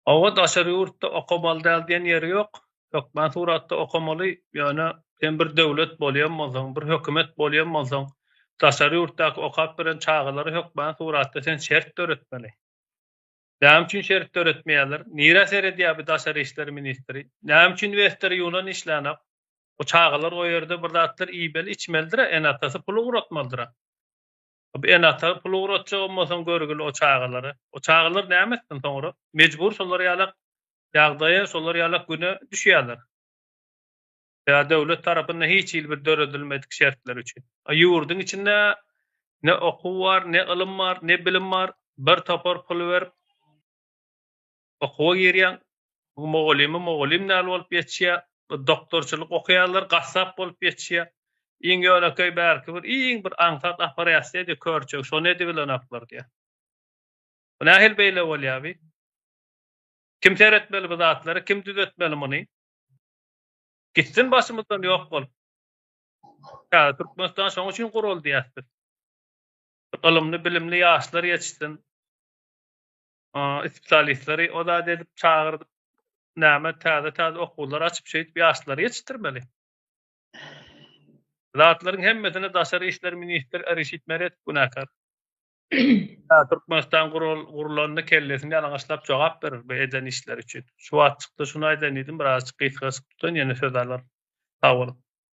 Owa daşary ýurtda okamaly däl diýen ýeri ýok. Hökmän suratda okamaly, ýöne sen bir döwlet bolýan bolsaň, bir hökümet bolýan bolsaň, daşary ýurtdaky okap bilen çagalara hökmän suratda sen şert döretmeli. Näme üçin şert döretmeýärler? Nirä seredýär bi daşary işler ministri? Näme üçin wester ýunan işlänok? Bu çagalar o ýerde bir zatlar iýmeli, içmelidira, ene-atasy pul ugratmalydyra. Hop ene-ata pul ugratjak onmasaň görgil o çagalara. O çagalar näme etsin soňra? Mejbur şolar ýalak ýagdaýa, şolar ýalak güne düşýärler. Ýa döwlet tarapynda hiç hili bir döredilmedik şertler üçin. A ýurduň içinde ne okuw bar, ne ylym bar, ne bilim bar. Bir topar pul berip okuwa girýäň, bu mugallymy mugallym däl bolup ýetişýär, bu doktorçylyk okaýanlar gassap bolup ýetişýär. Iň ýönekeý bärki bir iň bir aňsat operasiýa-da körçek, şony edibilenoklar diýýär. Bu nähili beýle bolýar bi? Kim seretmeli bu zatlary, kim düzetmeli muny? Gitsin başymyzdan ýok bolup. Ýa Türkmenistan şonuň üçin guruldy diýýäs biz. Ylymly, bilimli ýaşlar ýetişsin. Spesialistleri o zat edip çagyrdyp näme täze täze okuwlar açyp şeýdip ýaşlary ýetişdirmeli. Zatlaryň hemmesine daşary işler ministri Arişit Meredow günäkär. Türkmenistan gurulanda kellesini ýalaňaçlap jogap berer bu eden işleri üçin. Şu wagt çykdy şuny aýdaýyn diýdim birazajyk gysga çykdy ýene söz alar. Sag boluň.